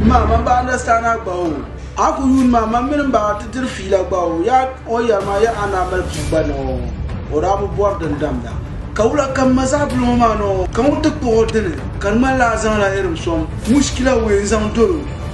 Ma, man ba understand a gba o. A ku yuun ma, man mini ba ti diri fiila gba o. Ya o yɛri ma ya a naa mali bua gba nɔɔ. O daa bi bɔri din damda. Ka wula ka m ma zaɣ bili ŋɔ maa nɔɔ? Ka ŋun ti kpuɣ o dini ka di ŋmanila a zaŋla irim sɔŋ mushkila wee n-zaŋ dol o?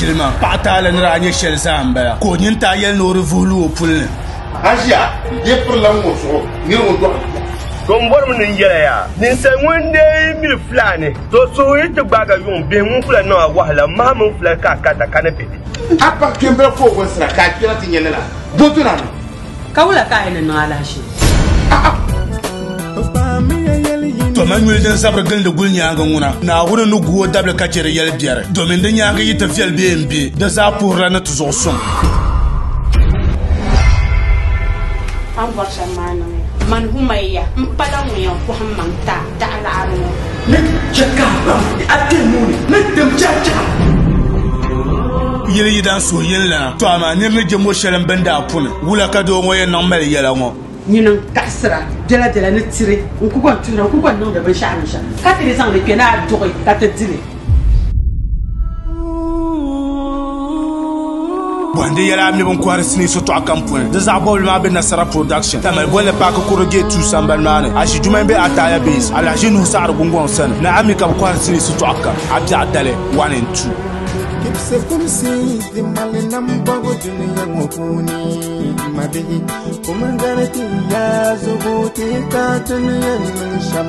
shili maa. Paɣa taali ni daa nyɛ shɛli zaa m-bala, ka o nyin taai yɛli ni o di vuhi lu o puli ni. Asia dee pirila ŋun o zuɣu mini ŋun dɔɣi li kom. Tɔ m-bɔri mi ni n-yɛli a yaa, ninsal ŋun n deei yi miri fulaani, tɔ suhu yi ti gbaagi yuŋ bihi ŋun kula niŋ a wahu la, maha mini fulali ka a karita ka ni be. A paɣ kpɛmbila ka o gɔnsira ka a kpɛra ti nyɛ lala, bɔ dɔna ni. Ka wula ka a yi ni niŋ alahachi? To ma nyuli din zabiri gilindi guli nyaaŋa ŋuna, Naawuni ni gu o dabili ka chɛ di yɛli biɛri, domin di nyaaŋa yi ti viɛli bee m-be, di zaa puhirila ni ti zuɣu suŋ. A ni bɔri shɛm maa niŋ ya. Man Humayiya m-pala ŋun yɛn kɔhimmaŋ ti a. Daɣilaɣiri ŋɔ ni chɛ ka a baŋ ni a kpe nuu ni ni tim chɛrichɛra. Yili yi daa suhi yini lana, tɔ amaa nir ni je mɔ shɛli m bini daa puni. Wula ka doo ŋɔ yɛn niŋ mali yɛla ŋɔ? Nyini n kaɣisira biɛlabiɛla ni tiri n ku gɔn tuhira n ku gɔn niŋdi binshɛɣu binshɛɣu ka ti di zaŋ li kpe ni a duɣi ka ti dili. Bohandi yɛla a mi bin kohari sinii sotɔɣu kam puuni di zaɣ bɔbili maa bɛ Nasara Production tamali bolli paaki kuro geeti tuu sambani maa ni aʒi juma bɛ Ataaya Base alahaʒi Nuhu Saɣiri Gungɔŋ sani ni a mi ka bi kohari sinii sotɔɣu kam a biɛɣu dali one and two Kipse kumsi di mali nambɔgu duniya ŋɔ puuni ma bihi kumindali ti yaa zugu ti ka duniya niŋ shɛm